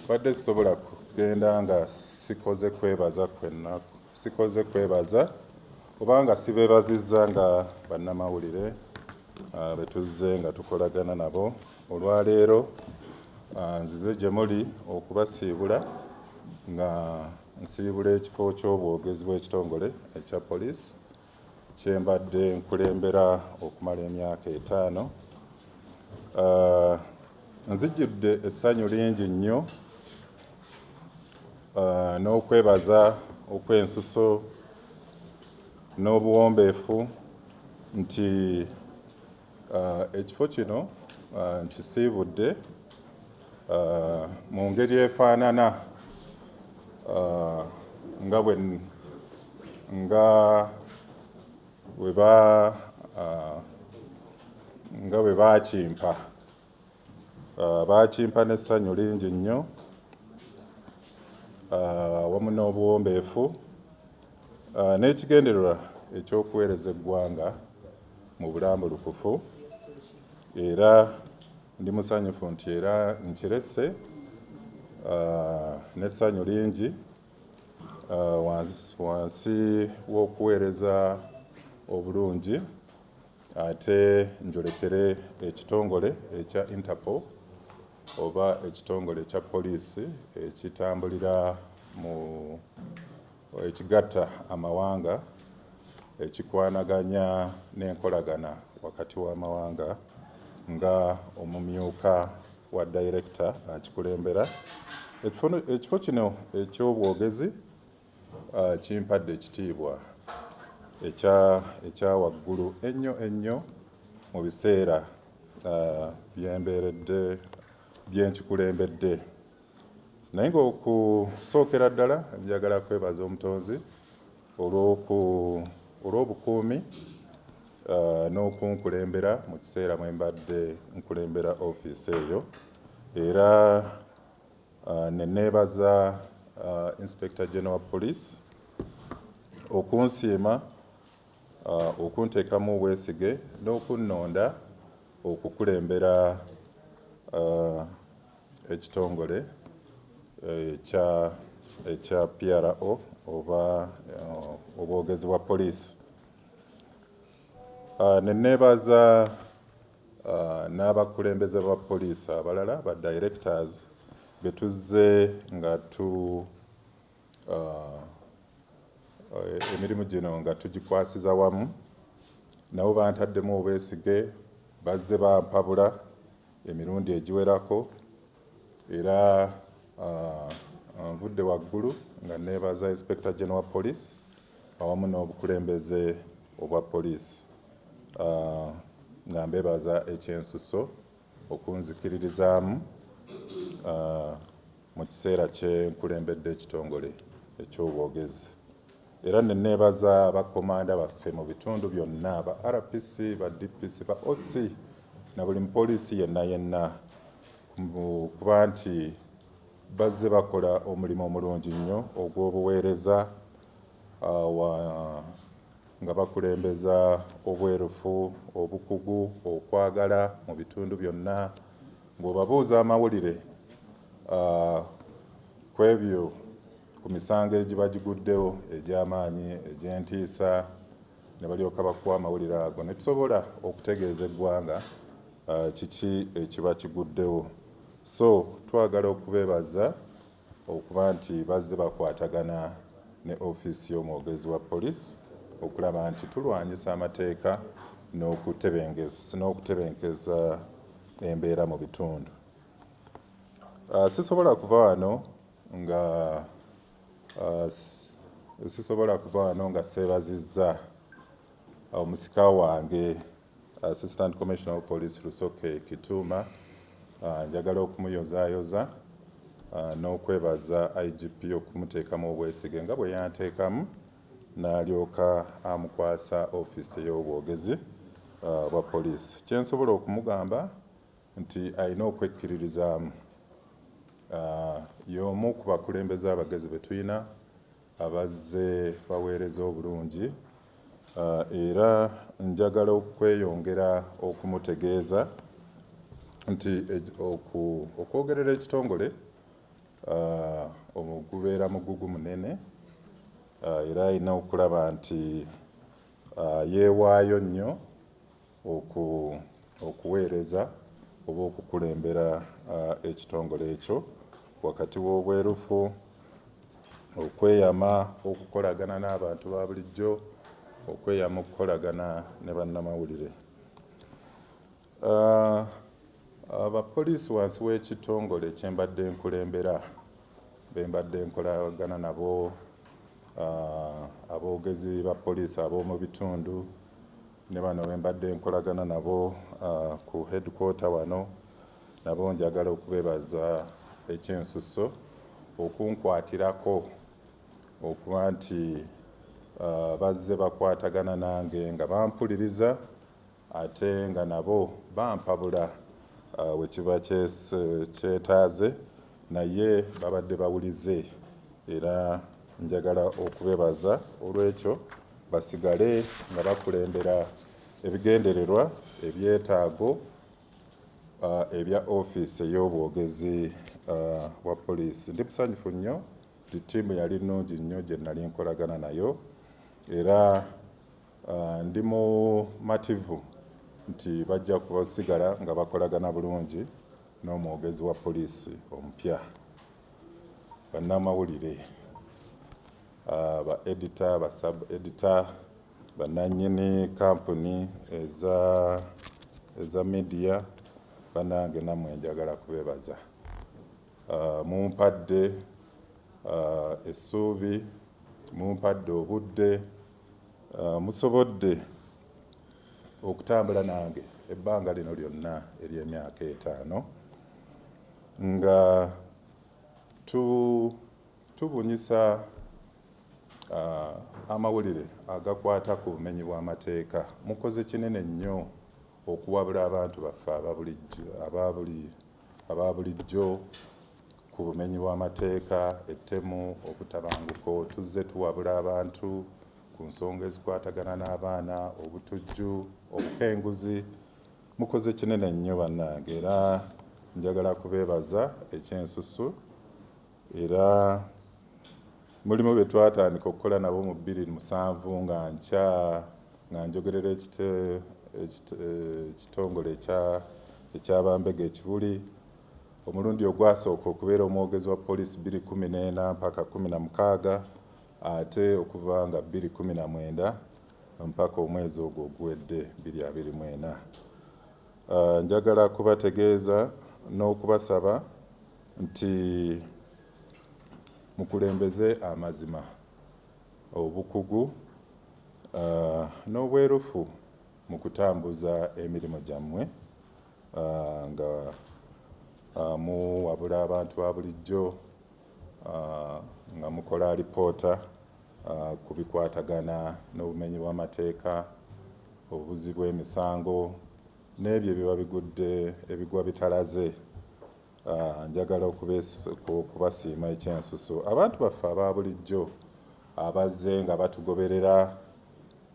Mbadde sisobola kugenda nga sikoze kwebaza kwenna sikoze kwebaza oba nga sibeebazizza nga bannamawulire ah, be tuzze nga tukolagana nabo olwaleero ah, nzize gye muli okubasiibula nga nsiibula ekifo ky'obwogezi bw'ekitongole ekya poliisi kye mbadde nkulembera okumala emyaka etaano. Uh, nzijjudde essanyu lingi nnyo uh, n'okwebaza okw'ensuso n'obuwombeefu nti Ekifo kino nkisiibudde mu ngeri efaanana nga bwe nga bwe ba nga bwe baakimpa. Ah, baakimpa n'essanyu lingi nnyo ah, awamu n'obuwombeefu ah, n'ekigendererwa eky'okuweereza eggwanga mu bulambulukufu era ndi musanyufu nti era nkirese n'essanyu lingi wansi w'okuweereza obulungi Ate njolekere ekitongole ekya Interpol oba ekitongole ekya poliisi ekitambulira mu ekigatta amawanga ekikwanaganya n'enkolagana wakati w'amawanga nga omumyuka wa dayirekita akikulembera. Ekifo kino eky'obwogezi. Kimpadde ekitiibwa ekya ekya waggulu ennyo ennyo mu biseera bye mbeeredde bye nkikulembedde. Naye ng'okusookera ddala njagala kwebaza Omutonzi olw'oku olw'obukuumi n'okunkulembera mu kiseera mwe mbadde nkulembera ofiisi eyo era. Ne neebaza Inspector General wa Police okunsiima, okunteekamu obwesige n'okunnonda okukulembera ekitongole ekya PRO oba obwogezi bwa Police. Ne neebaza. n'abakulembeze ba poliisi abalala ba Directors be tuzze nga tu emirimu gino nga tugikwasiza wamu nabo bantaddemu obwesige bazze bampabula emirundi egiwerako era nvudde waggulu nga neebaza Inspector General wa Poliisi awamu n'obukulembeze obwa poliisi. nga mbebaza ekyensusso okunzikiririzaamu mu kiseera kye nkulembedde ekitongole eky'obwogezi era ne neebaza bakkomanda baffe mu bitundu byonna ba RPC ba DPC ba OC na buli mupoliisi yenna yenna kuba nti bazze bakola omulimu omulungi nnyo ogw'obuweereza uh, nga bakulembeza obwerufu, obukugu, okwagala mu bitundu byonna ng'obabuuza amawulire kwebyo ku misango egibagiguddewo egy'amaanyi egy'entiisa ne balyoka bakuwa amawulire ago ne tusobola okutegeeza eggwanga kiki ekiba kiguddewo so twagala okubebaza okuba nti bazze bakwatagana ne ofiisi y'omwogezi wa police okulaba nti tulwanyisa amateeka n'okutebenkeza embeera mu bitundu. Sisobola kuva wano nga sisobola kuva wano nga seebazizza omusika wange. Assistant Commissioner of Police Rusoke Kituuma, njagala okumuyozaayoza n'okwebaza IGP okumuteekamu obwesige nga bwe yanteekamu n'alyoka amukwasa ofiisi ey'obwogezi bwa poliisi. Kye nsobola okumugamba nti alina okwekkiririzaamu. Y'omu ku bakulembeze abagezi be tulina. abazze baweereza obulungi era njagala okweyongera okumutegeeza nti okwogerera ekitongole gubeera mugugu munene era alina okulaba nti yeewaayo nnyo oku, okuweereza oba okukulembera a, ekitongole ekyo, wakati w'obwerufu, okweyama okukolagana n'abantu ba bulijjo, okweyama okukolagana ne bannamawulire. A, Abapoliisi wansi w'ekitongole kye mbadde nkulembera be mbadde nkolagana nabo aboogezi ba poliisi ab'omu bitundu Ne bano be mbadde nkolagana nabo ku headquarter wano nabo njagala okubebaza ekyensusso okunkwatirako okuba nti bazze bakwatagana nange nga bampuliriza ate nga nabo bampabula we kiba kyetaaze. Naye babadde bawulize era njagala okubebaza olw'ekyo basigale nga bakulembera ebigendererwa, ebyetaago ebya ofiisi ey'obwogezi bwa poliisi. Ndi musanyufu nnyo nti ttiimu yali nnungi nnyo gye nnali nkolagana nayo era ndi mumativu nti bajja kusigala nga bakolagana bulungi n'omwogezi wa poliisi omupya, bannamawulire, ba edita, ba sub edita, bannannyini kampuni eza eza midiya, bannange nammwe njagala kubebaza. Ah, mumpadde ah, essuubi, mumpadde obudde, ah, musobodde okutambula nange ebbanga lino lyonna ery'emyaka etaano nga tu tubunyisa uh, amawulire agakwata ku bumenyi bw'amateeka mukoze kinene nnyo okuwabula abantu baffe aba buli aba bulijjo ku bumenyi bw'amateeka, ettemu, obutabanguko, tuzze tuwabula abantu ku nsonga ezikwatagana n'abaana, obutujju, obukenguzi, mukoze kinene nnyo bannange era njagala kubeebaza ekyensusu. Era mulimu be twatandika okukola nabo mu bbiri musanvu nga nkya nga njogerera ekitongole ekya bambega e Kibuli, omulundi ogwasooka okubeera omwogezi wa poliisi bbiri kkumi n'ena mpaka kkumi na mukaaga ate okuva nga bbiri kkumi na mwenda mpaka omwezi ogwo oguwedde bbiri abiri mu ena. Njagala kubategeeza n'okubasaba nti mukulembeze amazima, obukugu n'obwerufu mu kutambuza emirimu gyammwe nga muwabula abantu ba bulijjo, nga mukola alipoota. ku bikwatagana n'obumenyi bw'amateeka, obubuzzi bw'emisango n'ebyo ebiba bigudde ebigwa bitalaze. Njagala okubasiima ekyensuso abantu baffe aba bulijjo abazze nga batugoberera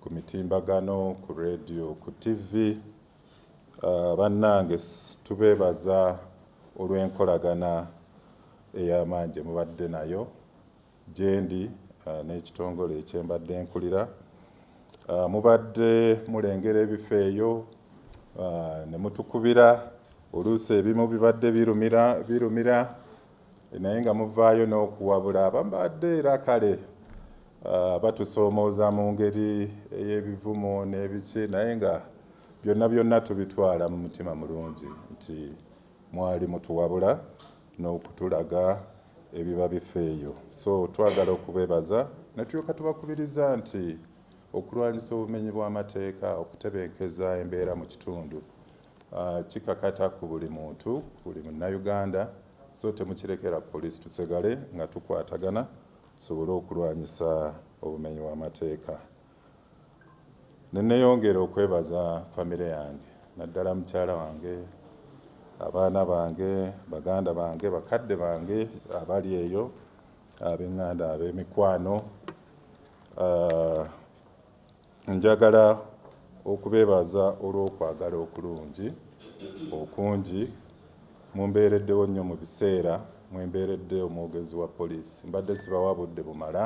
ku mitimbagano, ku leediyo, ku ttivvi. Bannange tubeebaza olw'enkolagana ey'amaanyi gye mubadde nayo. gyendi n'ekitongole kye mbadde nkulira mubadde mulengera ebifo eyo ne mutukubira oluusi ebimu bibadde birumira birumira naye nga muvaayo n'okuwabula abambadde era kale Ah, batusoomooza mu ngeri ey'ebivumo n'ebiki naye nga byonna byonna tubitwala mu mutima mulungi nti Mwali mutuwabula nokutulaga ebiba bifa eyo so twagala okubebaza netulyoka tubakubiriza nti okulwanyisa obumenyi bwamateeka okutebenkeza embeera mu kitundu kikakata ku buli muntu buli munnayuganda so temukirekera police tusegale nga tukwatagana tusobole okulwanyisa obumenyi wamateeka. Ne nneeyongera okwebaza famire yange naddala mukyala wange, abaana bange, baganda bange, bakadde bange abali eyo, ab'eŋŋanda, ab'emikwano. Njagala okubeebaza olw'okwagala okulungi okungi. Mumbeereddewo nnyo mu biseera mwe mbeeredde omwogezi wa poliisi. Mbadde sibawa budde bumala.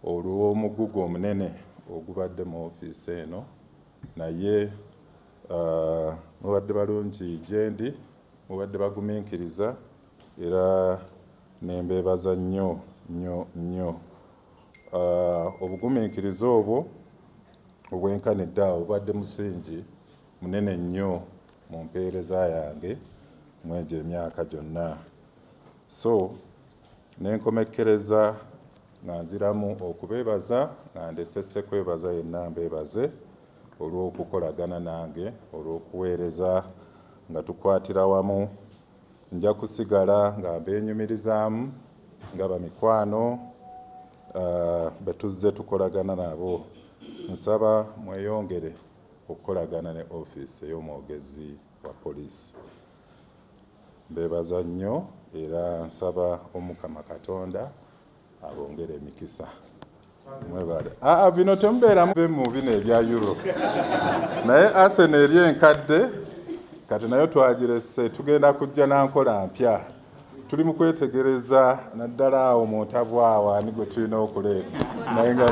olw'omuggugu omunene ogubadde mu ofiisi eno naye mubadde balungi gyendi, mubadde baguminkiriza era ne mbeebaza nnyo nnyo nnyo. Obuguminkiriza obwo obwenkana eddaala bubadde musingi munene nnyo mu mpeereza yange mw'egyo emyaka gyonna so Ne nkomekkereza nga nziramu okubeebaza nga ndese sekwebaza yenna mbeebaze olw'okukolagana nange, olw'okuweereza nga tukwatira wamu. Nja kusigala nga mbeenyumirizaamu nga bamikwano be tuzze tukolagana nabo. Nsaba mweyongere okukolagana ne ofiisi ey'omwogezi. wa police mbebaza nnyo era nsaba omukama katonda abongere emikisa mwebale aa ah, ah, bino temubeeramu mu bino ebya euro naye asena eri enkadde kati nayo twagirese tugenda kujja nankola mpya tuli mu kwetegereza naddala awo muntabwawo ani gwe tulina okuleeta naye nga